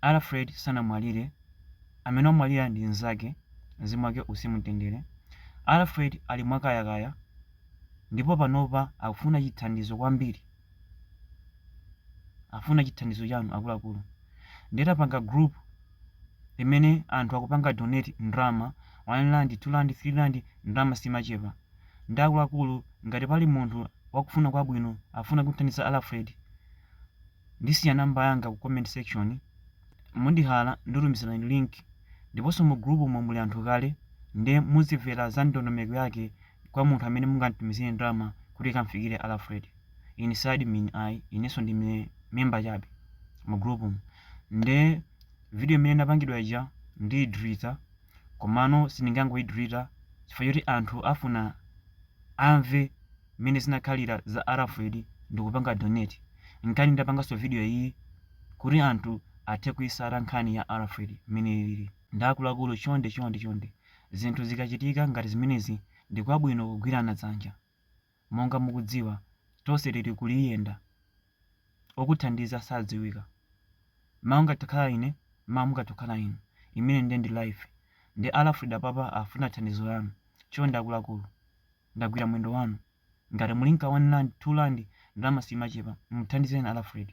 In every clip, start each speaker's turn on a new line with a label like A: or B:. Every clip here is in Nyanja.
A: Alfred sanamwalire, amene wamwalira ndi nzake, mzimu wake uuse mu mtendere. Alfred ali mwakayakaya ndipo panopa akufuna chithandizo kwambiri, afuna chithandizo chanu akuluakulu. Nde tapanga group limene anthu akupanga donate ndrama, 1 rand, 2 rand, 3 rand, ndrama simachepa. Nde akuluakulu ngati pali munthu wakufuna kwabwino afuna kumthandiza Alfred, ndisiya number yanga ku comment section mundihala ndikutumizirani link ndiponso mu group umo muli anthu kale nde muzimvera za ndondomeko yake kwa munthu amene mungamtumizire ndrama kuti ikamfikire alfred inside admin inenso ndi me- member chabe mu group umo nde video imene inapangidwa ija ndiyidilita komano sindingangoyidilita chifukwa choti anthu afuna amve mmene zinakhalira za a Alfred ndikupanga donate nchani ndapanganso video iyi kuti anthu athe kuitsata nkhani ya Alfred mmene ilili nde akuluakulu chonde chonde chonde zinthu zikachitika ngati zimenezi ndi kwabwino kugwirana dzanja monga mukudziwa tonse tili kuulendo okuthandiza sadziwika mawa ndingadzakhale ine mawa mungadzakhale inu imene nde ndi life nde Alfred apapa afuna thandizo lanu chonde akuluakulu ndagwira mwendo wanu ngati muli nka 1 rand 2 rand ndrama simachepa muthandizeni alfred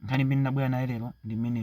A: nkhani imene ndabwera nayo lero ndi imene